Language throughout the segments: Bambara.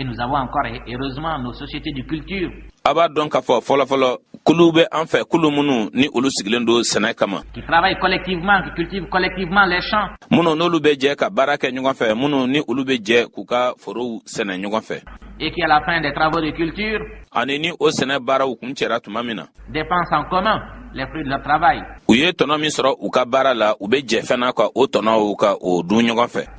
Et nous avons encore, heureusement, nos sociétés de culture. a b'a dɔn k'a fɔ fɔlɔfɔlɔ kulu bɛ an fɛ kulu minnu ni olu sigilen don sɛnɛ kama qui travaillent collectivement, qui cultivent collectivement les champs. minnu n'olu bɛ jɛ ka baara kɛ ɲɔgɔn fɛ minnu ni olu bɛ jɛ k'u ka forow sɛnɛ ɲɔgɔn fɛ et qui, à la fin des travaux de culture, ani ni o sɛnɛ baaraw kuncɛra tuma min na dépensent en commun les fruits de leur travail. u ye tɔnɔ min sɔrɔ u ka baara la u bɛ jɛ fana ka o tɔnɔw ka o dun ɲɔgɔn fɛ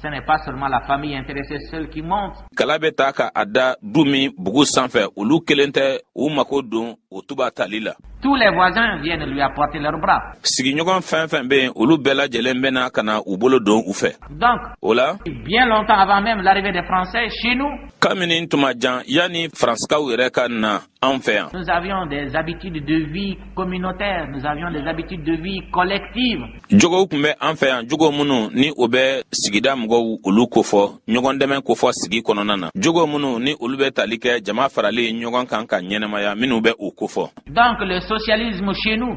ce n'est pas seulement la famille intéressée seule qui monte. Kala bɛ ta ka a da du min bugu sanfɛ olu kelen tɛ u mako don o tiba tali la. Tous les voisins viennent lui apporter leurs bras. Sigiɲɔgɔn fɛn fɛn bɛ yen olu bɛɛ lajɛlen bɛ na ka na u bolo don u fɛ. Donc o la. Bien longtemps avant même l'arrivée des Français chez nous. Kamini tuma jan yanni Faransikaw yɛrɛ ka na anw fɛ yan. Nous avions des habitudes de vie communautaires, nous avions des habitudes de vie collectives. Jogow tun bɛ an fɛ yan jogo minnu ni o bɛ sigida mɔgɔw olu kofɔ ɲɔgɔn dɛmɛ kofɔ sigi kɔnɔna na jogo minnu ni olu bɛ tali kɛ jama faralen ɲɔgɔn kan ka ɲɛnamaya minnu bɛ o kofɔ. Donc le socialisme chez nous.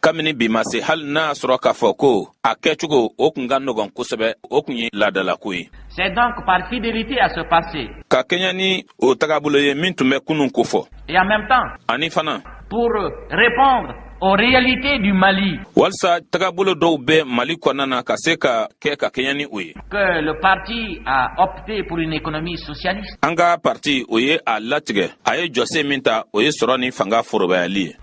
kabini bi ma se hali n'a y'a sɔrɔ k'a fɔ ko a kɛcogo o tun ka nɔgɔn kosɛbɛ o tun ye laadalako ye C'est donc par fidélité à ce passé. Ka kɛɲɛ ni o tagabolo ye min tun bɛ kunun kofɔ. Et en même temps. Ani fana. Pour répondre aux réalités du Mali. Walsa tagabolo dɔw bɛ Mali kɔnɔna na ka se ka kɛ ka kɛɲɛ ni o ye. Que le parti a opté pour une économie socialiste. An ka parti o ye a latigɛ. A ye jɔsen min ta o ye sɔrɔ ni fanga forobayali ye.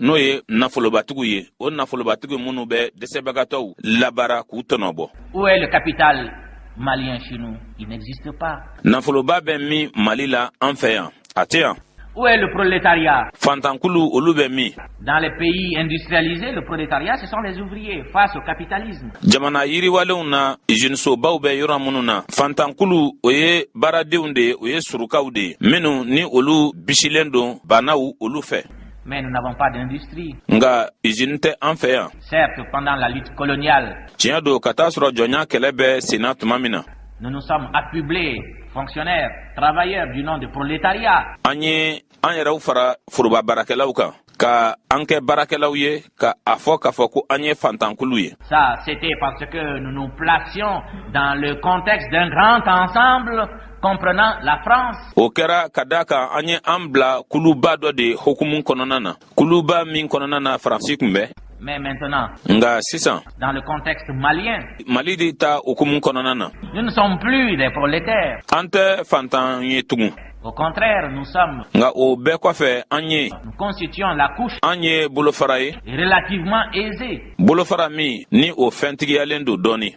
n'o ye nafolobatigiw ye o nafolobatigiw minnu bɛ dɛsɛbagatɔw labaara k'u tɔnɔbɔ où est le capital malien chez nous il n'existe pas nafoloba bɛ min mali la an fɛ yan a tɛ yan Où est le prolétariat Fantankulu, olu bɛ min Dans les pays industrialisés, le prolétariat, ce sont les ouvriers face au capitalisme. Jamana yiriwalenw na, usinisobaw bɛ yɔrɔ minnu na, Fantankulu, o ye baaradenw de ye, o ye surukaw de ye, minnu ni olu bisilen don baanaw olu fɛ. Mais nous n'avons pas d'industrie. Nga usini tɛ an fɛ yan. Certes, pendant la lutte coloniale. Tiɲɛ don ka t'a sɔrɔ jɔnya kɛlɛ bɛ senna tuma min na. Nous nous sommes affublés, fonctionnaires, travailleurs du nom de prolétariat. An ye an yɛrɛw fara foroba baarakɛlaw kan ka an kɛ baarakɛlaw ye ka a fɔ k'a fɔ ko an ye fantankulu ye. Ça, c'était parce que nous nous placions dans le contexte d'un grand ensemble o kɛra ka d'a kan an ye an bila kuluba dɔ de hukumu kɔnɔna na kuluba min kɔnɔna na faransi tun bɛ Mais maintenant, nga sisan dans le contexte malien mali de ta hukumu kɔnɔna na nous ne sommes plus des prolétaires an tɛ fantan ye tugun Au contraire, nous sommes nga o bɛɛ kɔfɛ an ye nous constituons la couche an ye bolofara ye relativement aisée bolofara min ni o fɛntigiyalen don dɔɔni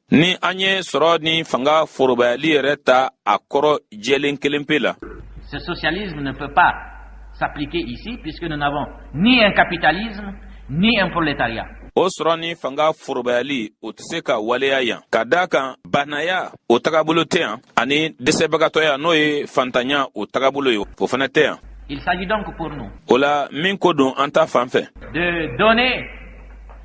ni an ye sɔrɔ ni fanga forobayali yɛrɛ ta a kɔrɔ jɛlen kelen pe la ce socialisme ne peut pas s'appliquer ici puisque nous n'avons ni un capitalisme ni un prolétariat o sɔrɔ ni fanga forobayali o tɛ se ka waleya yan ka d'a kan baanaya o tagabolo tɛ yan ani dɛsɛbagatɔya n'o ye fantanya o tagabolo ye o fana tɛ yan Il s'agit donc pour nous. O la min ko don an ta fan fɛ. De donner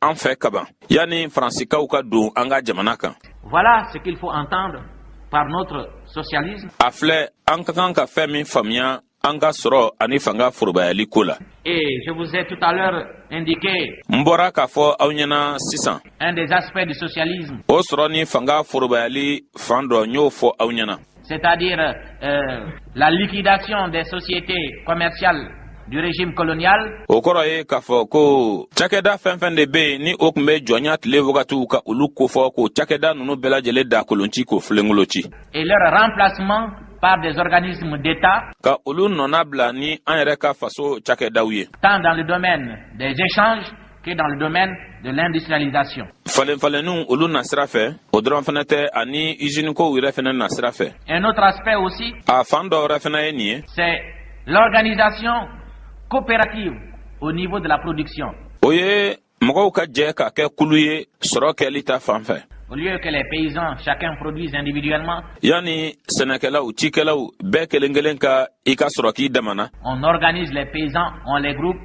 an fɛ kaban yanni faransikaw ka don an ka jamana kan voilà ce qu'il faut entendre par notre socialisme a filɛ an ka kan ka fɛn min faamuya an ka sɔrɔ ani fanga forobayali ko la et je vous ai tout à l'heure indiqué n bɔra k'a fɔ aw ɲɛna sisan un des aspects du socialisme o sɔrɔ ni fanga forobayali fan dɔ n y'o fɔ aw ɲɛna c'est-à-dire euh, la liquidation des sociétés commerciales du régime colonial. o kɔrɔ ye k'a fɔ ko cakɛda fɛn fɛn de bɛ yen ni o tun bɛ jɔnya tile wagatiw ka olu kofɔ k'o cakɛda ninnu bɛɛ lajɛlen dakolonci k'o filenkolonci. et leur remplacement par des organismes d'État. Ka olu nɔnabila ni an yɛrɛ ka faso cakɛdaw ye. Tant dans le domaine des échanges que dans le domaine de l'industrialisation. Falenfalenninw olu na sira fɛ, o dɔrɔn fana tɛ ani usine kow yɛrɛ fana na sira fɛ. Un autre aspect aussi. A fan dɔ wɛrɛ fana ye nin ye. C'est l'organisation coopérative au niveau de la production. O ye mɔgɔw ka jɛ ka kɛ kulu ye sɔrɔ kɛli ta fan fɛ. Au lieu que les paysans chacun produisent individuellement. Yani sɛnɛkɛlaw, cikɛlaw bɛɛ kelen-kelen ka i ka sɔrɔ k'i damana. On organise les paysans, on les groupe.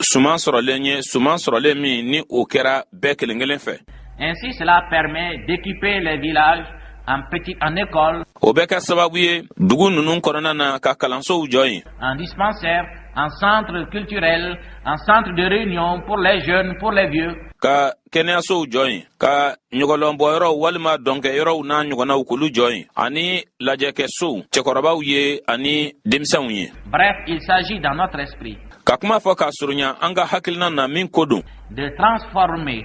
suman sɔrɔlen ye suman sɔrɔlen min ni o kɛra bɛɛ kelen kelen fɛ Ainsi, cela permet d'équiper les villages en petit en école, o bɛ kɛ sababu ye dugu ninnu kɔnɔna na ka kalansow jɔ yen en dispensaire, en centre culturel, en centre de réunion pour les jeunes, pour les vieux. ka kɛnɛyasow jɔ yen ka ɲɔgɔlɔnbɔyɔrɔw walima dɔnkɛyɔrɔw n'a ɲɔgɔnnaw k'olu jɔ yen ani lajɛkɛsow cɛkɔrɔbaw ye ani denmisɛnw ye bref il s'agit dans notre esprit ka kuma fɔ k'a surunya an ka hakilina na min ko don de transformer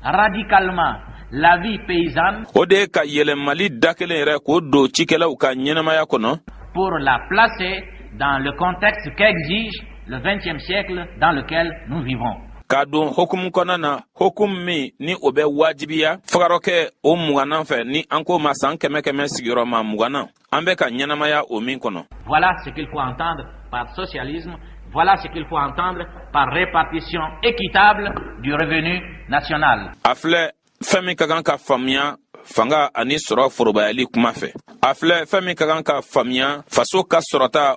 radicalement la vie paysanne o de ye ka yɛlɛmali da kelen yɛrɛ k'o don cikɛlaw ka ɲɛnamaya kɔnɔ pour la placer dans le contexte qu'exige le 20e siècle dans lequel nous vivons k'a don hukumu kɔnɔna na hukumu min ni o bɛ wajibiya fagarɔkɛ o muganan fɛ ni an k'o ma san kɛmɛ kɛmɛ sigiyɔrɔma muganan an bɛ ka ɲɛnamaya o min kɔnɔ voilà ce qu'il faut entendre par socialisme Voilà ce qu'il faut entendre par répartition équitable du revenu national. A filɛ fɛn min ka kan ka faamuya fanga ani sɔrɔ forobayali kuma fɛ a filɛ fɛn min ka kan ka faamuya faso ka sɔrɔta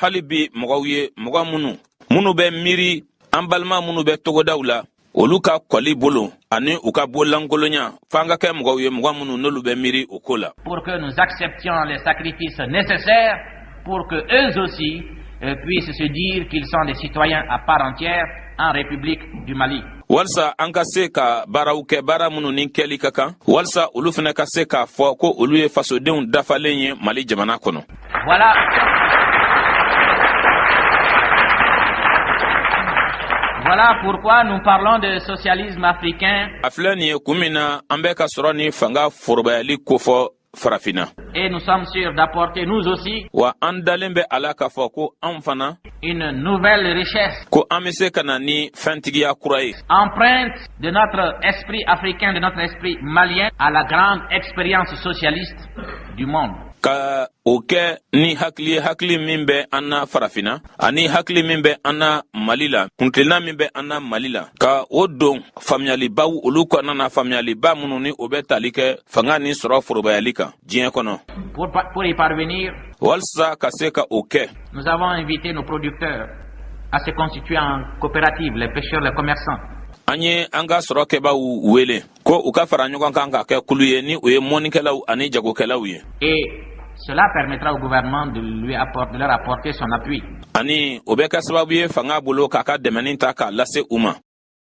hali bi mɔgɔw ye mɔgɔ minnu minnu bɛ miiri an balima minnu bɛ togodaw la olu ka kɔli bolo ani u ka bolankolonya f'an ka kɛ mɔgɔw ye mɔgɔ minnu n'olu bɛ miiri o ko la pour que nous acceptions les sacrifices nécessaires pour que eux aussi euh, puissent se dire qu'ils sont des citoyens à part entière en République du Mali walisa an ka se ka baaraw kɛ baara minnu ni kɛli ka kan walisa olu fana ka se k'a fɔ ko olu ye fasodenw dafalen ye mali jamana kɔnɔ Voilà. Voilà pourquoi nous parlons de socialisme africain. A filɛ nin ye kun min na an bɛ ka sɔrɔ ni fanga forobayali kofɔ farafinna. Et nous sommes sûrs d'apporter nous aussi. Wa an dalen bɛ a la k'a fɔ ko an fana. Une nouvelle richesse. Ko an bɛ se ka na ni fɛntigiya kura ye. Empreinte de notre esprit africain, de notre esprit malien à la grande expérience socialiste du monde. ka o kɛ ni hakili ye hakili min bɛ an na farafina ani hakili min bɛ an na mali la kuntilenna min bɛ an na mali la ka o don faamuyalibaw olu kɔnɔna na faamuyaliba minnu ni o bɛ tali kɛ fanga ni sɔrɔ forobayali kan diɲɛ kɔnɔ Pour y parvenir, walisa ka se ka o kɛ Nous avons invité nos producteurs à se constituer en coopérative, les pêcheurs, les commerçants. An ye an ka sɔrɔkɛbaaw wele ko u ka fara ɲɔgɔn kan ka kɛ kulu ye ni u ye mɔnikɛlaw ani jagokɛlaw ye Et cela permettra au gouvernement de, lui apporter, de leur apporter son appui. Ani o bɛ kɛ sababu ye fanga bolo k'a ka dɛmɛni ta k'a lase u ma.